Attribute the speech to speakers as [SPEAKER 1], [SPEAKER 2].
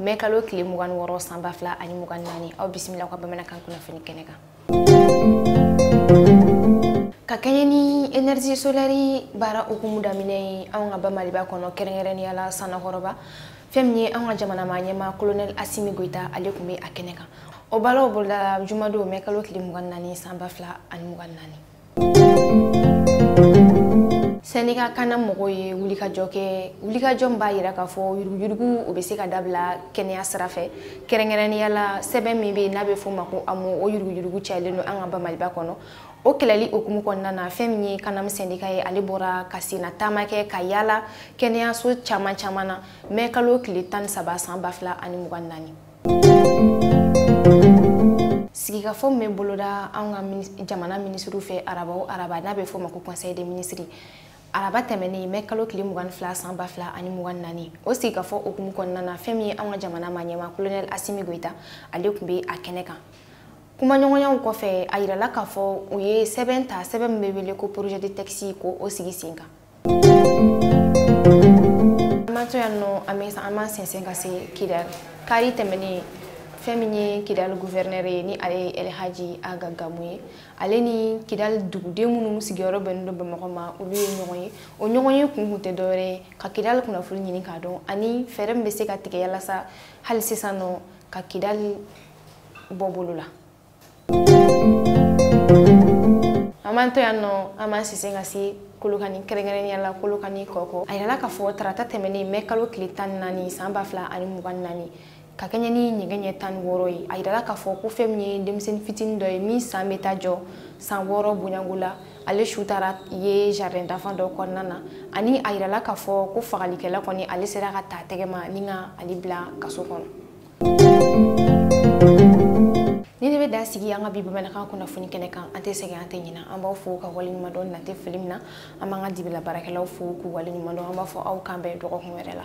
[SPEAKER 1] mɛ kalo tile mugan ni wɔɔrɔ san ba fila ani mugan naani aw bisimila ka bamanankan kunnafoni kɛnɛ kan ka kɛɲɛ ni énergie solaire baara hukumu daminɛ ye anw ka ba maliba kɔnɔ kɛrɛnkɛrɛnnenya la sanankɔrɔba fɛn min ye anw ka jamana ma ɲɛmaa kolonɛli asimi goyita ale tun bɛ a kɛnɛ kan o baaraw bolodala jumadon mɛ kalo tile mugan naani san ba fila ani mugan naani sɛndika kanam mɔgɔw ye wulikajɔ kɛ wulikajɔ min b'a yira k'a fɔ yuruguyurugu o bɛ se ka dabila kɛnɛya sira fɛ kɛrɛnkɛrɛnnenya la sɛbɛn min bɛ yen n'a bɛ f'o ma ko amo o yuruguyurugu cayalen don an ka ba maliba kɔnɔ o kɛlɛli hukumu kɔnɔna na fɛn min ye kanam sɛndika ye ale bɔra ka senna taama kɛ ka yaala kɛnɛyaso caman caman na mɛ kalo tile tan ni saba san ba fila ani mugan naani sigikafɔ min bɛ boloda anw ka jamana minisiriw fɛ araba o araba n'a bɛ fɔ o ma ko conseil des ministres araba tɛmɛnen mɛ kalo tile mugan ni fila san ba fila ani mugan naani o sigikafɔ hukumu kɔnɔna na fɛn min ye anw ka jamana ma ɲɛmaa kolonɛl asimi goyita ale tun bɛ a kɛnɛ kan kumaɲɔgɔnyaw kɔfɛ a yirala k'a fɔ u ye sɛbɛn ta sɛbɛn min bɛ wele ko projet de texte k'o sigi sen kan sɛnsɛn ka se kidali kari tɛmɛnen fɛn min ye kidali guvɛrinɛri ye ni ale ye elhaji aga gamu ye ale ni kidali duguden minnu sigiyɔrɔ bɛnnen don bamakɔ ma olu ye ɲɔgɔn ye o ɲɔgɔnye kun kun tɛ dɔwɛrɛ ye ka kidali kunnafoni ɲini k'a dɔn ani fɛɛrɛ min bɛ se ka tigɛ yalasa hali sisan nɔ ka kidali bɔ bolo la an b'an to yan nɔ an b'an sɛnsɛn ka se kolokani kɛrɛnkɛrɛnnenya la kolokani kɔkɔ a yirala k'a fɔ tarata tɛmɛnen mɛ kalo tile tan ni naani san ba fila ani mugan ni naani ka kɛɲɛ ni nɛgɛ ɲɛ tan ni wɔɔrɔ ye a yirala k'a fɔ ko fɛn min ye denmisɛnnin fitinin dɔ ye min san bɛ taa jɔ san wɔɔrɔ bonyanko la ale su taara ye jardin d'enfant dɔ kɔnɔna na ani a yirala k'a fɔ ko fagalikɛla kɔni ale sera ka ta tɛgɛ ma ni ka ale bila kaso kɔnɔ nin de bɛ dan sigi an ka bi bamanankan kunnafoni kɛnɛ kan an tɛ sɛgɛn an tɛ ɲina an b'aw fo k'aw waleɲuman dɔn n'an tɛ fili min na an b'an ka dibila baarakɛlaw fo k'u waleɲuman dɔn an b'a fɔ aw k'an bɛn dɔgɔkun wɛrɛ la